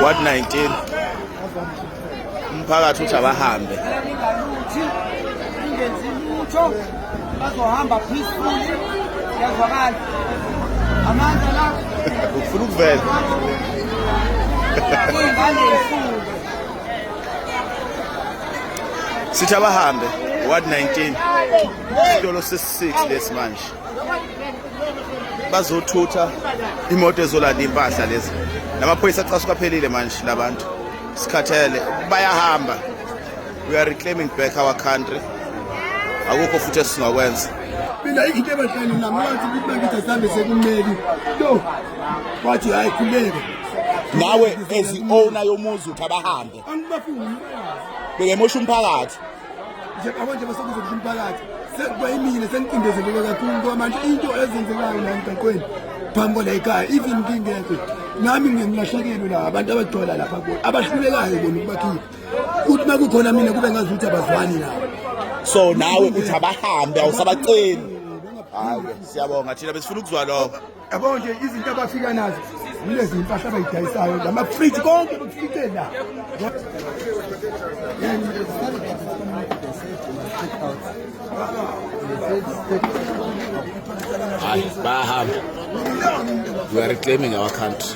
What 19? Umphakathi uthi abahambe. Ingenzi lutho bazohamba peacefully yazwakala. Amandla la ufuna ukuvela. Ingane ifunde. Sithi abahambe. Ward 19 isitolo sesi-6 lesi manje bazothutha imoto ezolanda impahla lezi namaphoyisa acasuka phelile manje labantu sikhathele bayahamba we are reclaiming back our country akukho futhi esingakwenza mina into ebahlani nami wathi ukuthi bakithi asihambe sekumeli no wathi hayi khuleke nawe as i-owner yomuzi uthi abahambe angibafuni beke mosha umphakathi njengamanje bese kuzokusho umphakathi sekubayimile sengicindezeleke kakhulu ngoba manje into ezenzekayo la emgaqweni phambi kwala ekhaya even ngingekho nami ngilahlekelwe la abantu abagcwala lapha kubo abahlulekayo bona ukubakhipha ukuthi uma kukhona mina kube ngazi ukuthi abazwani nabo so nawe uthi abahambe awusabaceli hayi siyabonga thina besifuna ukuzwa lokho yabo nje izinto abafika nazo kulezi impahla abayidayisayo lamafriji konke bakufike la hayi bayahamba we are reclaiming our country